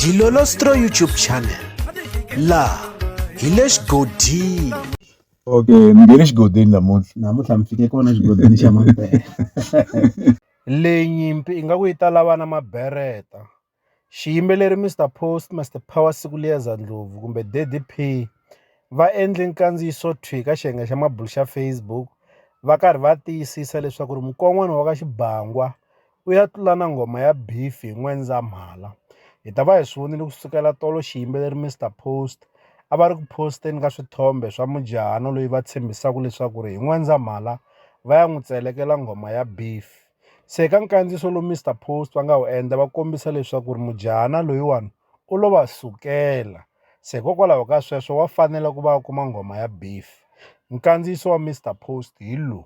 Dilolostro YouTube channel laha hi le xigodini okay ni nge le xigodini namuntlha namuntlha mi fike kona xigodini xa mabere leyi nyimpi i nga ku yi ta lava na mabereta xiyimbeleri mr post master power siku liyeza ndlovu kumbe daddy p va endle nkandziyiso thwi ka xiyenge xa mabulu xa facebook va karhi va tiyisisa leswaku ri mukon'wana wa ka xibangwa U ya tlula na nghoma ya Beef hi N'wendzamhala. Hi ta va hi swi vonile ku sukela tolo xiyimbeleri Mister Post a va ri ku post-eni ka swithombe swa mujahana loyi va tshembisaka leswaku ri hi N'wendzamhala va ya n'wi tselekela nghoma ya Beef. Se ka nkandziyiso lowu Mister Post va nga wu endla va kombisa leswaku ri mujahana loyiwani u lo va sukela, se hikokwalaho ka sweswo wa fanela ku va a kuma nghoma ya Beef. Nkandziyiso wa Mister Post hi lowu.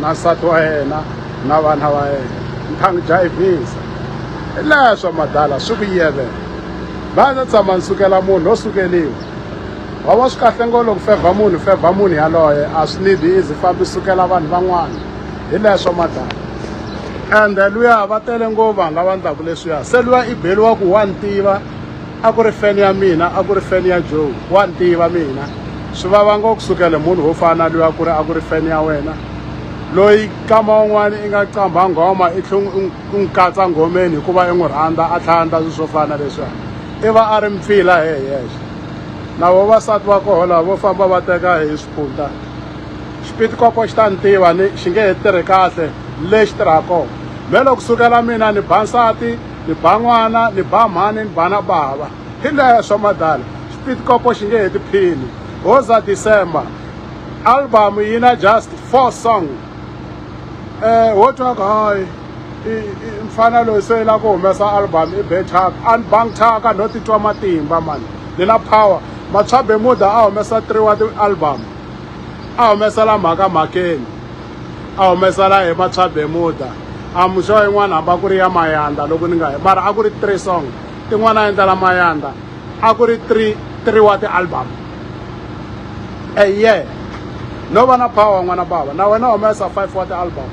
na nsati wa yena na vana va yena ni kha ni jayivhisa hi laha swa madala swi ku yevela va ndzi tshama ni sukela munhu lo sukeliwa wa va swi kahle ngolo ku fevha munhu fevha munhu yaloye a swi need izi fambi sukela vanhu van'wana hi laha swa madala ende luya va tele ngo vanhu lava ndlaku leswiya se luya i beliwa ku wa ni tiva a ku ri feni ya mina a ku ri feni ya joe wa ni tiva mina swi vava ngo kusukele munhu wo fana loyi a ku ri a ku ri feni ya wena loyi kama un'wana i nga qambha nghoma i tlhe u n'wi katsa nghomeni hikuva i n'wi rhandza a tlhandla swilo swo fana leswiya i va a ri mpfila he yexe na vavasati va koho lava vo famba va teka hi swipunta xipitikoko xi ta ni tiva ni xi nge he tirhi kahle lexi tirhaka kona me loko kusukela mina ni ba nsati ni ba n'wana ni ba mhani ni ba na bava hi leswa swa madala xipitikopo xi nge heti phini hoza december album yi na just four song um wo twa ku hayi mfana loyi se la ku humesa album i bethaka a ni bang thaka no titwa matimba mani ni na power matswabemuda a humesa three wa ti-album a humesela mhaka mhakeni a humesa la hi Matswa Bermuda a muxo yin'wana hamba ku ri ya Mayanda loko ni nga mara a ku ri three song tin'wana a endla la Mayanda a ku ri three three wa ti-album a year no va na power n'wana bava na wena humesa five wa ti-album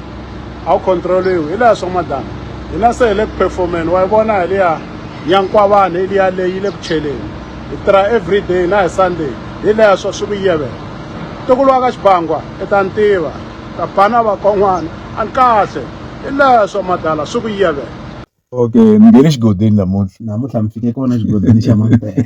a wu controliwi hi leswo madana hina se hi le ku performeni wa yi vona hi liya nyankwavana hi liya leyi yi le ku cheleni hi tirha every day na hi sunday hi leswo swi ku yivela Ntukulu wa ka Xibangwa i ta ni tiva, ta bana vakon'wana a ni kahle, hi leswo madala swi ku yivela. Okay, mi nghene xigodini namuntlha. Namuntlha mi fike kona xigodini xa Mampela.